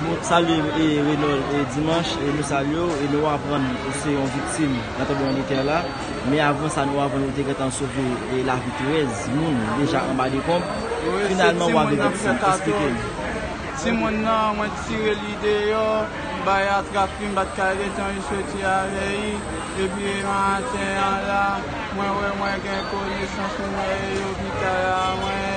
Nou salye Renold Dimanche e nou salye w e nou aprann ou se yon viktim nan tranbleman de tè la men avan sa nou aprann ou te gentan sove lavi 13 moun deja anba dekonb finalman w ave viktim esplike n. Ti moun nan mwen t tire li deyò m bay atrap li m bat kay li etan li soti avè li epi maten an la mwen wè mwen gen konesans mwen e yo ki ta la mwen e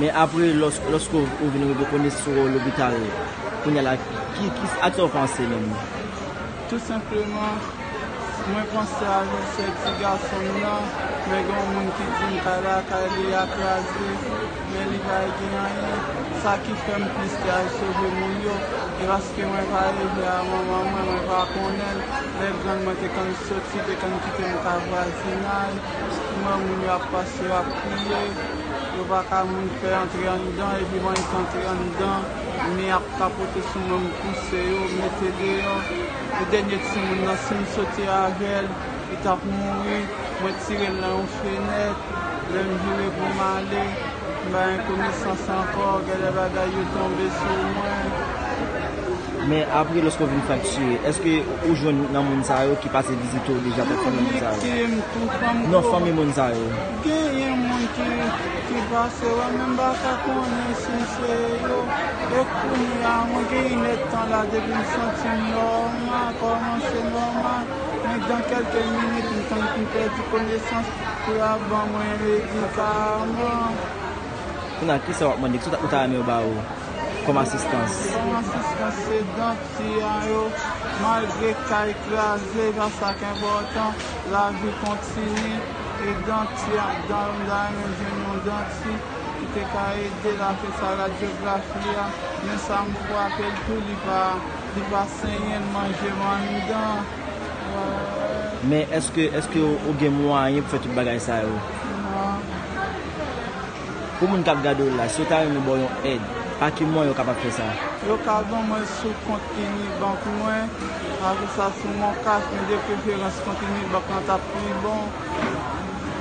Men apre loske ou vin rive konnen si w o lopital kounya la ak sa w panse menm? Tou senpleman, mwen panse a yon sè ti gason m nan, men gen yon moun ki di m kay lakay li a kraze, men li pa gen anyen. Sa ki fè m plis te al sove moun yo, e paske mwen pa leve a manman mwen, mwen pa konnen l, lè grann mwen te konn soti, te konn kite m ka vwazinay. Jisteman moun yo ap pase yo ap kriye, yo pa ka moun fè antre anndan epi ban yo antre anndan men ap tapote sou mwen m pouse yo mete deyò e dènye timoun nan si m soti avèl li tap mouri mwen tirel nan yon fenèt lèm vire pou m ale m pa gen konesans ankò gèlè bagay yo tonbe sou mwen. Men apre loske w vin fraktire, eske ou jwenn nan moun sa yo ki pase vizite w deja tankou fanmi moun sa yo? Vizite m tou fanm ko. Non fanmi moun sa yo. Genyen moun ki pase wè m men m pa ka konnen si se yo. E kounye a mwen gen yn èdtan la depi m santi m nòmal, kòmanse nòmal, men dan kèlke minit m tann pou m pèdi konesans pou yo ap ban mwen medikaman. Kounye a kisa w ap mande, kisa ou ta renmen yo ba ou? kòm asistans. Kòm asistans se dan kliyan yo. Malgre kay kraze, pa sa k enpòtan, lavi kontini e danti ak dan yo. M ta renmen jwenn yon danti ki te ka ede l a fè sa radyografi a. Men sa m frape l tou li pa li pa senyen, l manje m anndan. Men èske èske ou gen mwayen pou fè tout bagay sa yo? Non. Pou moun kap gade w la, si yo ta renmen ba w yon èd, pa ki mwayen yo kapab fè sa? Yo ka ban mwen sou kont Unibank mwen, ajoute sa sou MonCash mwen de preferans kont Unibank lan tap pi bon,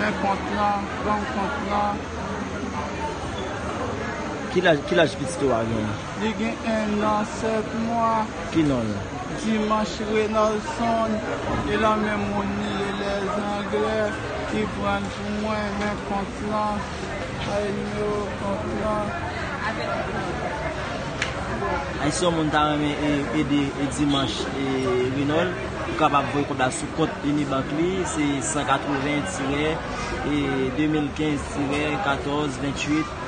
men kont lan, banm kont lan. Ki laj pitit ou a genyen? Li gen 1 an 7 mwa. Ki non l? Dimanche Renolson, e lan menm moun li ye lè zanglè ki pran l. Mwen men kont lan Ayy yo kont lan. Ayy si yon moun ta renmen ede Dimanche Renold ou kapab voye kòb la sou kont Unibank li se 180 tirè 2015 tirè 14 28.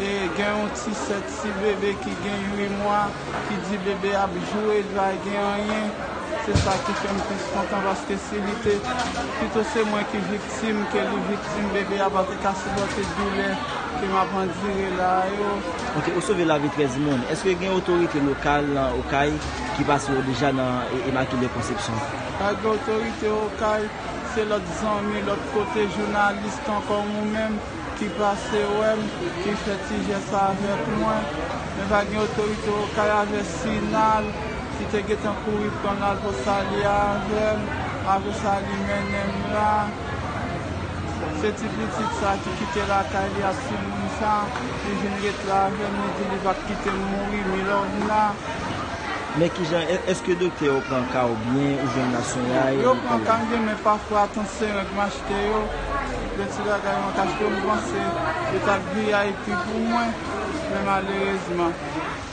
Gen yon ti sè ti bebe ki gen 8 mwa ki di bebe ap joure li pa gen anyen se sa ki fèm plis kontan paske si li te pito se mwen ki viktim ke li viktim bebe a pa te ka sipòte doulè ke map andire la a yo. Ok ou sove lavi 13 moun eske gen otorite lokal nan okay ki pase yo deja nan imakile konsepsyon. Pa gen otorite okay se lòt zanmi lòt kote jounalis tan kòm ou menm. Ki pase wèm ki fè ti jès sa avèk mwen men pa gen otorite okay avè sinal ki te gentan kouri pranl al pran sali avèm apre sa li mennenm la se ti pitit sa ki kite lakay li ak ti moun sa li vin ret la avèm li di li pap kitem mouri Milòvna. Men kijan eske doktè yo pran kaw byen ou jwenn la sonyay yo pran ka m byen men pafwa tansyon règ mache. Te yo, de ti bagay mwen ka chke m panse yo t ap vip pou mwen, men malerezman,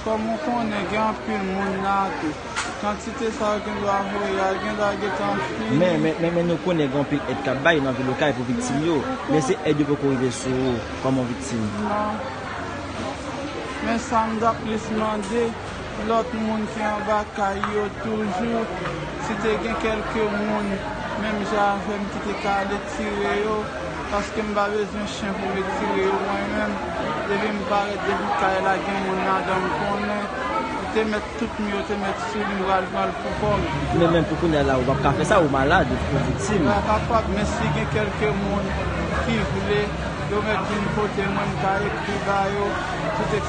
kòm ou konnen gen anpil moun la a tou, kantite sa yo gen dwa voye a gen dwa gentan fini. Men, men, men, men nou konnen gen anpil èd k ap bay nan vil Okay pou viktim yo, men se èd yo poko rive sou ou kòm on viktim. Non. Men sa m t ap plis mande. Lòt moun ki anba kay yo toujou, si te gen kèlke moun menm jan avè m ki te ka ale tire yo, paske m pa bezwen chen pou vin tire yo mwen menm, depi m parèt depi kay la gen moun ladan m konnen, m te mèt tout mi yo te mèt sou li m pral pran l pou kò m. Men men pou kounya la ou pap ka fè sa ou malad ou fè viktim. Mwen kapab men si gen kèlke moun ki vle yo mèt vin kote mwen m ka ekri ba yo tout.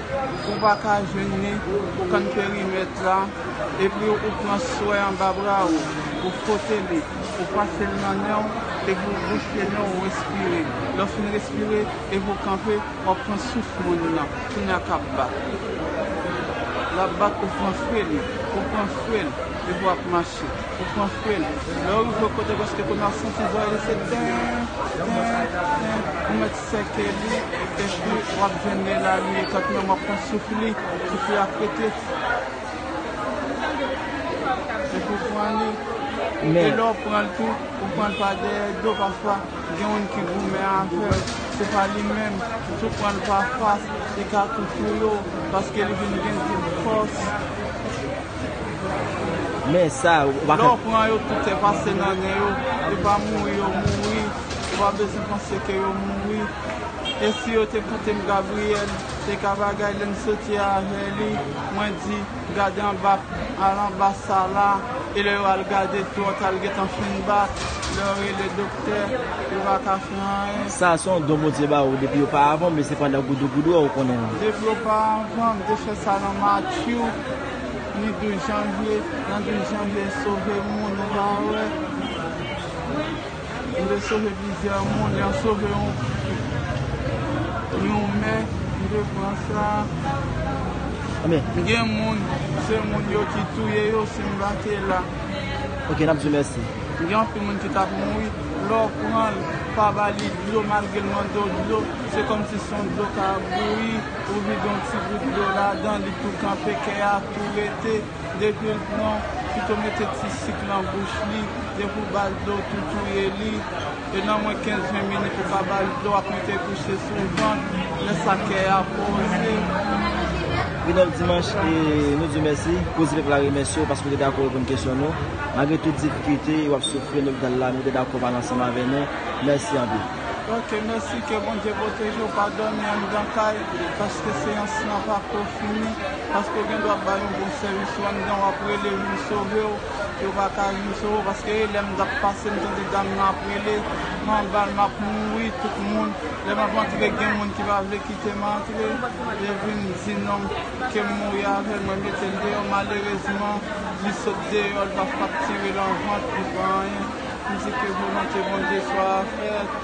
Ou pa ka jwenn ni pou kann perimèt la epi ou pran swè anba bra ou, ou fwote li, ou pase l nan nen w epi ou bouche nen w ou respire. Lè w fin respire epi ou kanpe w ap pran souf moun nan kounye a k ap bat. L ap bat ou pran fre li, ou pran fre l epi w ap mache, ou pran fre l. Lè w rive kote prèske kounye a w santi zòrèy li se ten, ten, ten, ou mèt. Sè Kelly epi wap jwenn Melanie tank yon map pran souf li souf li ap pete depi w pran li e lè w pran l tou ou pran l pa dèyè do pafwa gen youn ki goumen avè w se pa li menm si w pran l pa fas li ka tou touye w paske li vin gen tout fòs lè w pran yo tout se pase nan nen yo se pa mouri yo mouri. Ou pa bezwen panse ke yo mouri. E si yo te koute m Gabriel te ka bagay lè m soti avè li mwen di gade anba al anba sa la e lè yo al gade tou an ta al gentan fin bat lè yo rele doktè yo pa ka fè anyen. Sa se yon don Bondye ba ou depi yo pa avan w men se pandan goudou goudou a ou konnen l. Depi yo pa avan m te fè sa nan Matthew ni 12 janvye nan 12 janvye sove moun ou pa wè. Yo te sove plizyè moun, yo sove yon mè m te pran sa. Gen moun, se moun yo ki touye yo si m pa te la. Ok nap di mèsi. Gen anpil moun ki tap mouri, lè w pran l, pa ba li dlo malgre l mande w dlo, se kòmsi se yon dlo kap bouyi, ou vide yon ti gout dlo ladan li tou kanpe, kè a tou rete. Depi l pran, pito mete ti sik nan bouch li, depi w ba l dlo tou touye li, e nan mwen 15 20 minit ou ka ba l dlo ak mete kouche sou vant, lè sa kè a poze. Ridolph Dimanche nou di w mèsi, Koze Pèp la remèsye w paske w te dakò reponn kesyon nou, malgre tout difikilte w ap soufri an lopital la men w te dakò pale ansanm avè nou, mèsi anpil. Ok mèsi ke Bondye pwoteje w pa dòmi anndan kay paske seyans lan pako fini. Paske ou gen dwa bay yon bon sèvis ou anndan wap rele vin sovew yo pa ka vin sove w paske e lèm tap pase m tande dam nan ap rele m anbal map mouri tout moun lè map antre gen moun ki pa vle kitem antre yo vin di non kem mouri avèl mwen metel deyò malerezman li sot deyò li pa faktire lan vant li pa anyen m di ke volonte Bondye swa fèt.